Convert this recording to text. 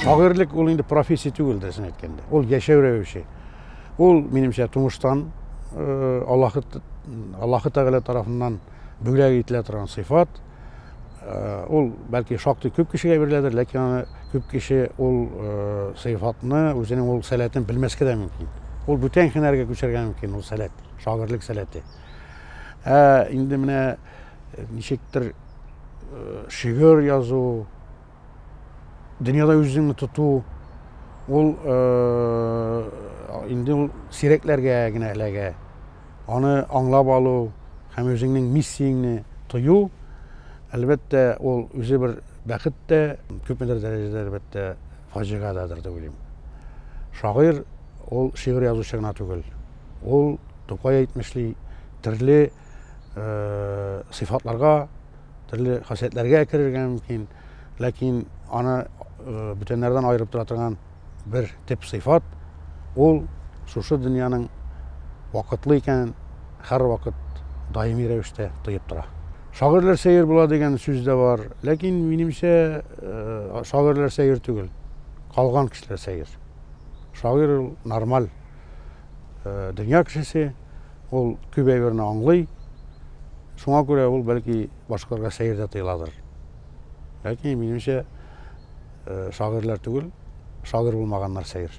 шагыйрьлек ул инде профессия түгел дөресен әйткәндә ул яшәү рәвеше ул минемчә тумыштан э, аллахы аллахы тәгалә тарафыннан бүләк ителә торган сыйфат Э, ул бәлки шактый күп кешегә биреләдер ләкин аны күп кеше ул э, сыйфатны үзенең ул сәләтен белмәскә дә мөмкин ул бүтән һөнәргә күчәргә мөмкин ул сәләт шагыйрьлек сәләте ә инде менә э, ничектер шигырь язу Дөньяда үзеңне тоту ул инде ул сирәкләргә генә эләгә. Аны аңлап алу һәм үзеңнең миссияңне тою, әлбәттә, ул үзе бер бәхет тә, күпмедер дәрәҗәдә, әлбәттә, фаҗига дадыр дип уйлыйм. Шагыйрь ул шигырь язучы гына түгел. Ул Тукай әйтмешли, төрле сыйфатларга төрле хасиятләргә керергә мөмкин ләкин аны бүтәннәрдән аерып тора торган бер төп сыйфат ул шушы дөньяның вакытлы икәнен һәрвакыт даими рәвештә тоеп тора шагыйрьләр сәер була дигән сүз дә бар ләкин минемчә э, шагыйрьләр сәер түгел калган кешеләр сәер шагыйрь ул нормаль Э, дөнья кешесе ул күп әйберне аңлый шуңа күрә ул бәлки башкаларга сәер дә тыйладыр ләкин минемчә э, шагыйрьләр түгел шагыйрь булмаганнар сәер